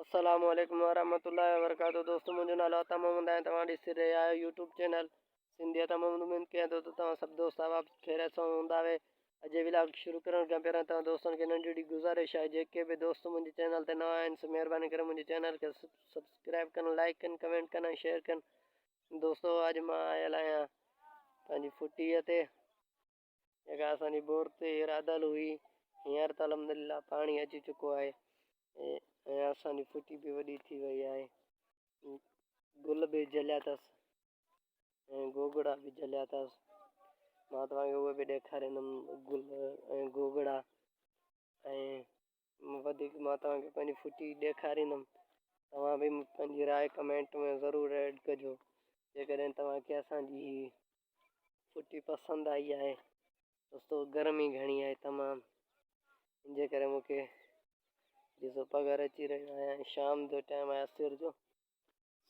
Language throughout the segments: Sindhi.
السلام عليڪم ورحمة الله وبرڪاته دوستو منهنجو نالو عطا محمد آهي توهان ڏسي رهيا آهيو يوٽيوب چينل سنڌي عطا محمد اميد ڪيان ٿو ته توهان سڀ دوست احباب خيريت سان هوندا اهي اڄ ولاگ شروع ڪرڻ کان پهريان توهان دوستن کي ننڍي ڙي گزارش آهي جيڪي به دوست منهنجي چينل تي نوان آهن سو مهرباني ڪري منهنجي چينل کي سبسڪرائب ڪن لائڪ ڪن ڪمينٽ ڪن ۽ شيئر ڪن دوستو اڄ مان آيل آهيان پنهنجي ڦٽيء تي جيڪا اسان جي بور تي رادل هئي هينئر ته الحمدلله پاڻي اچي چڪو آهي ۽ اسان جي ڦٽي به وڏي ٿي وئي آهي گل به جليا اٿس ۽ گوگڙا به جليا اٿس مان توهان کي اهي به ڏيکاريندم گل ۽ گوگڙا ۽ وڌيڪ مان توهان کي پنهنجي ڦٽي ڏيکاريندم توهان به پنهنجي راء ڪمينٽ ۾ ضرور ايڊ ڪجو جيڪڏهن توهان کي اسان جي هي ڦٽي پسند آئي آهي دوستو گرمي گهڻي آهي تمام ان جي ڪري مون کي ڏسو پگهر اچي رهيو آهيان شام جو ٽائم آهي عصر جو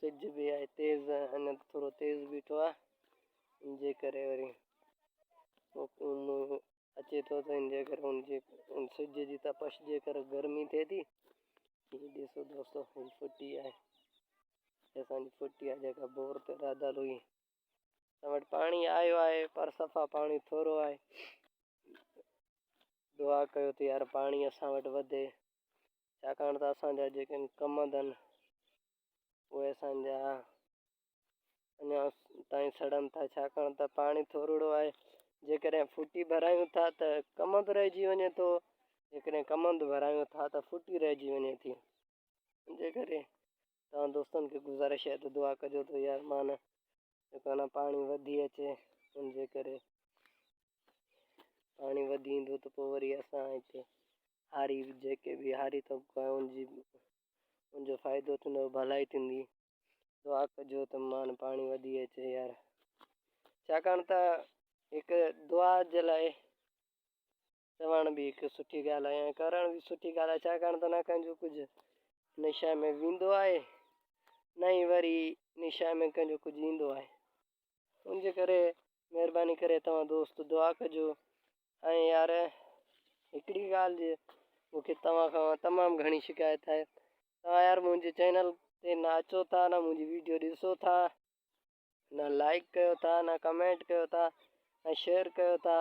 سج به آهي تيز اڃا ٿورو تيز بيٺو آهي ان جي ڪري وري اچي ٿو ته ان جي ڪري ان جي ان سج جي تپش جي ڪري گرمي ٿئي ٿي هي ڏسو دوستو هي ڦٽي آهي اسان جي ڦٽي آهي جيڪا بور تي راڌل هئي اسان وٽ پاڻي آيو آهي پر صفا پاڻي ٿورو آهي دعا ڪيو ته يار پاڻي اسان وٽ وڌي ڇاڪاڻ ته اسان جا جيڪي ڪم اٿن اهي اسان جا اڃا تائين سڙن ٿا ڇاڪاڻ ته پاڻي ٿورڙو آهي جيڪڏهن ڦٽي ڀرايون ٿا ته ڪم به رهجي وڃي ٿو جيڪڏهن ڪم به ڀرايون ٿا ته ڦٽي رهجي وڃي ٿي ان جي ڪري توهان دوستن کي گذارش آهي ته دعا ڪجو ته يار مان جيڪو انا پاڻي وڌي اچي ان جي ڪري پاڻي وڌي ايندو ته پوء وري اسان هتي هاري جيڪي به هاري طبقو آهي ان جي ان جو فائدو ٿيندو ڀلائي ٿيندي دعا ڪجو ته مان پاڻي وڌي اچي يار ڇاڪاڻ ته هڪ دعا جي لاء چوڻ به هڪ سٺي ڳالهه آهي ۽ ڪرڻ به سٺي ڳالهه آهي ڇاڪاڻ ته نه ڪنهن جو ڪجهه نشان ۾ ويندو آهي نه ئي وري نشان ۾ ڪنهن جو ڪجهه ايندو آهي ان جي ڪري مهرباني ڪري توهان دوست دعا ڪجو ۽ يار هڪڙي ڳالهه جي مون کي توهان کان تمام گهڻي شڪايت آهي توهان يار منهنجي چينل تي نه اچو ٿا نه منهنجي ويڊيو ڏسو ٿا نه لائيڪ ڪيو ٿا نه ڪمينٽ ڪيو ٿا ۽ شيئر ڪيو ٿا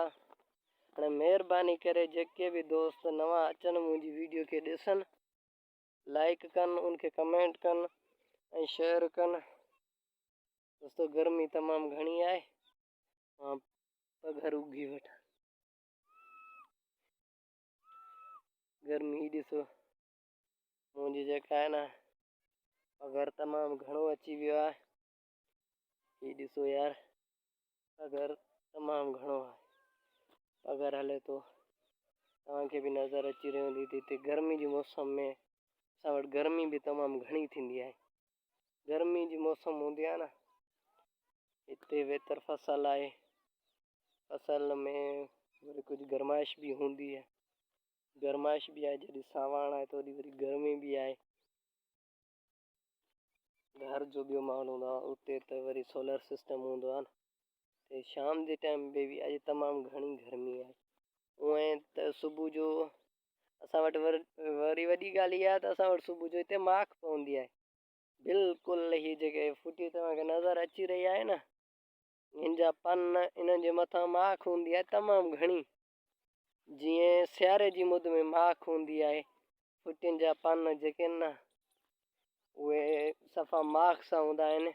هاڻي مهرباني ڪري جيڪي به دوست نوان اچن منهنجي ويڊيو کي ڏسن لائيڪ ڪن ان کي ڪمينٽ ڪن ۽ شيئر ڪن دوستو گرمي تمام گهڻي آهي مان پگهر اگهي وٺان گرمي ڏسو منهنجي جيڪا آهي نه پگهر تمام گهڻو اچي ويو آهي هي ڏسو يار پگهر تمام گهڻو آهي پگهر هلي ٿو توهان کي به نظر اچي رهي هوندي ته هتي گرمي جي موسم ۾ اسان وٽ گرمي به تمام گهڻي ٿيندي آهي گرمي جي موسم هوندي آهي نه هتي ويتر فصل آهي فصل ۾ وري ڪجهه گرمائش به هوندي آهي گرمائش به آهي جڏهن ساواڻ آهي ته اوڏي وري گرمي به آهي. گهر جو ٻيو ماحول هوندو آهي اتي ته وري سولر سسٽم هوندو آهي نه ته شام جي ٽائيم به اڄ تمام گهڻي گرمي آهي اونئن ته صبح جو اسان وٽ وري وڏي ڳالهه اها آهي ته اسان وٽ صبح جو هتي ماک پوندي آهي بلڪل هي جيڪي ڦٽي توهان کي نظر اچي رهي آهي نه هن جا پن انهن جي مٿان ماک هوندي آهي تمام گهڻي جيئن سياري جي مد ۾ ماک هوندي آهي ڦٽين جا پن جيڪي آهن نه اهي صفا ماک سان هوندا آهن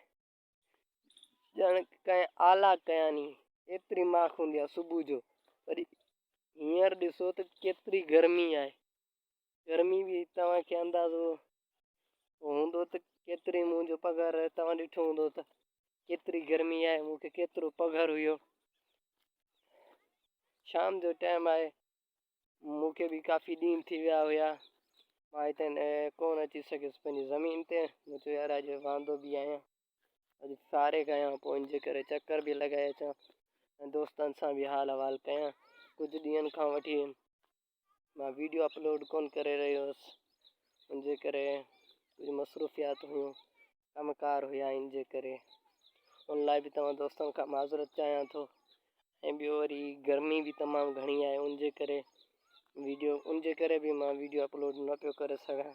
ڄڻ ڪنهن آلا ڪيا ني ايتري ماک هوندي آهي صبح جو وري هينئر ڏسو ته ڪيتري گرمي آهي گرمي به توهان کي اندازو هوندو ته ڪيتري منهنجو پگهر آهي توهان ڏٺو هوندو ته ڪيتري گرمي آهي مون کي ڪيترو پگهر هيو شام جو ٽائم آهي مون کي به ڪافي ڏينهن ٿي ويا هيا مان هتي ڪون اچي سگهيس پنهنجي زمين تي مون چيو يار اڄ واندو به آهيان اڄ ساري ڪيان پوء ان جي ڪري چڪر به لڳائي اچان ۽ دوستن سان به حال احوال ڪيان ڪجهه ڏينهن کان وٺي مان ويڊيو اپلوڊ ڪونه ڪري رهيو هيس ان جي ڪري ڪجهه مصروفيات هيون ڪم ڪار هيا ان جي ڪري ان لاء به توهان دوستن کان معذرت چاهيان ٿو ۽ ٻيو وري گرمي به تمام گهڻي آهي ان جي ڪري ويڊيو ان جي ڪري به مان ويڊيو اپلوڊ نه پيو ڪري سگهان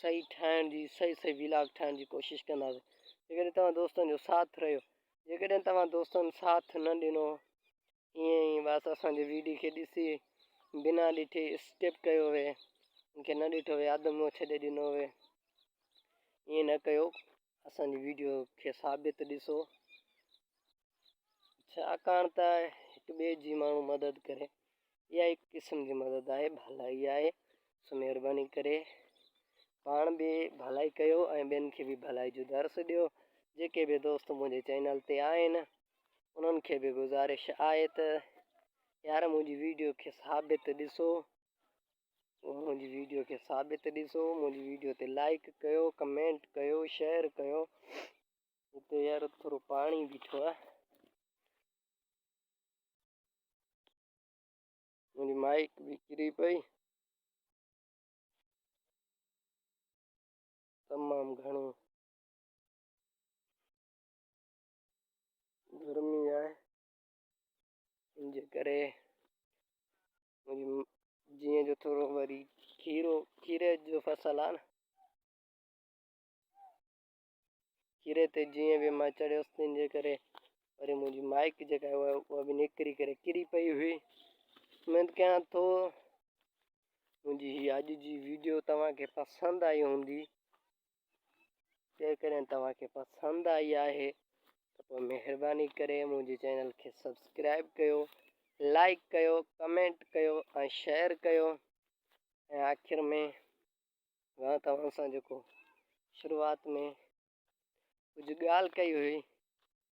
صحيح ٺاهڻ جي صحيح صحيح ويلاگ ٺاهڻ جي ڪوشش ڪنداسين جيڪڏهن توهان دوستن جو ساٿ رهيو جيڪڏهن توهان دوستن ساٿ نه ڏنو ائين ئي بس اسانجي ويڊيو کي ڏسي بنا ڏٺي اسڪپ ڪيو وي ان کي نه ڏٺو وي اڌ مون ڇڏي ڏنو وي ائين نه ڪيو اسانجي ويڊيو کي ثابت ڏسو ڇاڪاڻ ته هڪ ٻئي جي ماڻهو مدد ڪري اها هڪ قسم جي مدد آهي ڀلائي آهي سو مهرباني ڪري پاڻ به ڀلائي ڪيو ۽ ٻين کي به ڀلائي جو درس ڏيو جيڪي به دوست منهنجي چينل تي آهن انهن کي به گزارش آهي ته يار منهنجي ويڊيو کي ثابت ڏسو منهنجي ويڊيو کي ثابت ڏسو منهنجي ويڊيو تي لائڪ ڪيو ڪمينٽ ڪيو شيئر ڪيو اتي يار ٿورو پاڻي بيٺو آ منهنجي مائڪ به ڪري پئي تمام گھڻي گرمي آهي ان جي ڪري جيئن جو ٿورو وري کيرو کيري جو فصل آ نه ڪري تي جيئن به مان چڙهيس تنهن جي ڪري وري منهنجي مائڪ جيڪا هئي اها به نڪري ڪري ڪري پئي هئي اميد ڪيان ٿو منهنجي هي اڄ جي ويڊيو توهانکي پسند آئي هوندي جيڪڏهن توهانکي پسند آئي آهي ته پوء مهرباني ڪري منهنجي چينل کي سبسڪرائب ڪيو لائڪ ڪيو ڪمينٽ ڪيو ۽ شيئر ڪيو ۽ آخر ۾ مان توهان سان جيڪو شروعات ۾ ڪجهه ڳالهه ڪئي هئي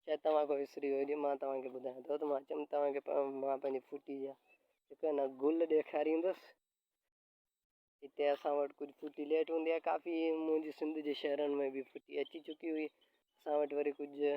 شايد توهان کان وسري وئي هجي مان توهان کي ٻڌايان ٿو ته مان چيم توهان کي مان پنهنجي ڦوٽي جا هڪ انا گل ڏيکاريندس هتي اسان وٽ ڪجهه ڦوٽي ليٽ هوندي آهي ڪافي منهنجي سنڌ جي شهرن ۾ به ڦوٽي اچي چڪي هئي اسان وٽ وري ڪجهه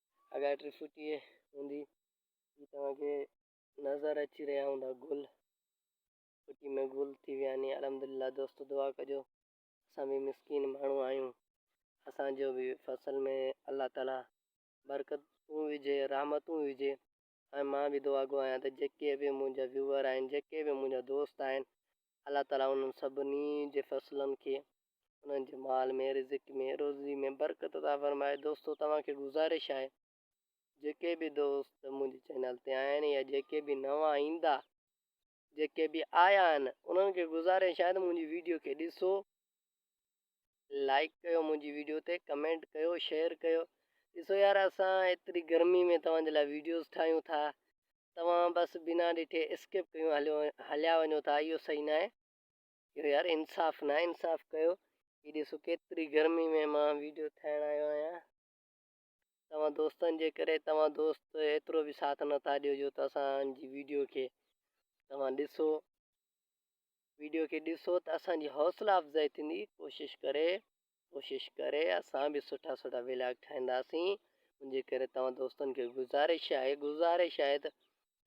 اگهاڙ ٽي فوٽي هوندي هي توهان کي نظر اچي رهيا هوندا گل فوٽي ۾ گل ٿي ويا آهن الحمدلله دوستو دعا ڪجو اسان به مسڪين ماڻهو آهيون اسان جو به فصل ۾ الله تعالي برڪتون وجهي رحمتون وجهي ۽ مان به دعا گو آهيان ته جيڪي به منهنجا ويوئر آهن جيڪي به منهنجا دوست آهن الله تعالي انهن سڀني جي فصلن کي انهن جي مال ۾ رزق ۾ روزي ۾ برڪت عطا فرمائي دوستو توهان کي گذارش آهي جيڪي به دوست منهنجي چينل تي آهن يا جيڪي به نوان ايندا جيڪي به آيا آهن انهن کي گذارش آهي ته منهنجي ويڊيو کي ڏسو لائيڪ ڪيو منهنجي ويڊيو تي ڪمينٽ ڪيو شيئر ڪيو ڏسو يار اسان ايتري گرمي ۾ توهان جي لاء ويڊيوز ٺاهيون ٿا توهان بس بنا ڏٺي اسڪپ ڪيون هليو هليا وڃو ٿا اهو صحيح نه آهي اهو يار انصاف نه آهي انصاف ڪيو هي ڏسو ڪيتري گرمي ۾ مان ويڊيو ٺاهڻ آيو آهيان توهان دوستن جي ڪري توهان دوست ايترو به ساٿ نه ٿا ڏيو جو ته اسان جي ويڊيو کي توهان ڏسو ويڊيو کي ڏسو ته اسان جي حوصلا افزائي ٿيندي ڪوشش ڪري ڪوشش ڪري اسان به سٺا سٺا ولاگ ٺاهينداسين ان جي ڪري توهان دوستن کي گزارش آهي گزارش آهي ته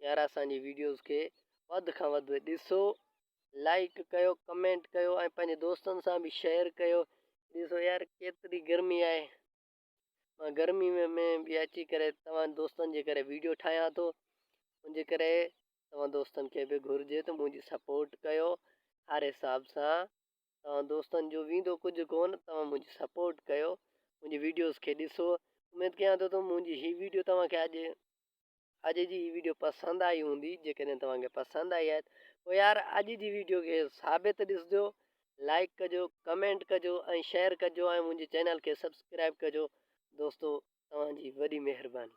يار اسان جي ويڊيوز کي وڌ کان وڌ ڏسو لائڪ ڪيو ڪمينٽ ڪيو ۽ پنهنجي دوستن سان به شيئر ڪيو ڏسو يار ڪيتري گرمي آهي مان گرمي ۾ ۾ به اچي ڪري توهان دوستن جي ڪري ويڊيو ٺاهيان ٿو ان جي ڪري توهان دوستن کي به گهرجي ته منهنجي سپورٽ ڪيو هر حساب سان توهان دوستن جو ويندو ڪجهه ڪون توهان منهنجي سپورٽ ڪيو منهنجي ويڊيوز کي ڏسو اميد ڪيان ٿو ته منهنجي هي ويڊيو توهان کي اڄ اڄ جي هي ويڊيو پسند آئي هوندي جيڪڏهن توهان کي پسند آئي آهي پوء يار اڄ جي ويڊيو کي ثابت ڏسجو لائڪ ڪجو ڪمينٽ ڪجو ۽ شيئر ڪجو ۽ منهنجي چينل کي سبسڪرائب ڪجو دوستو توهان جي وڏي مهرباني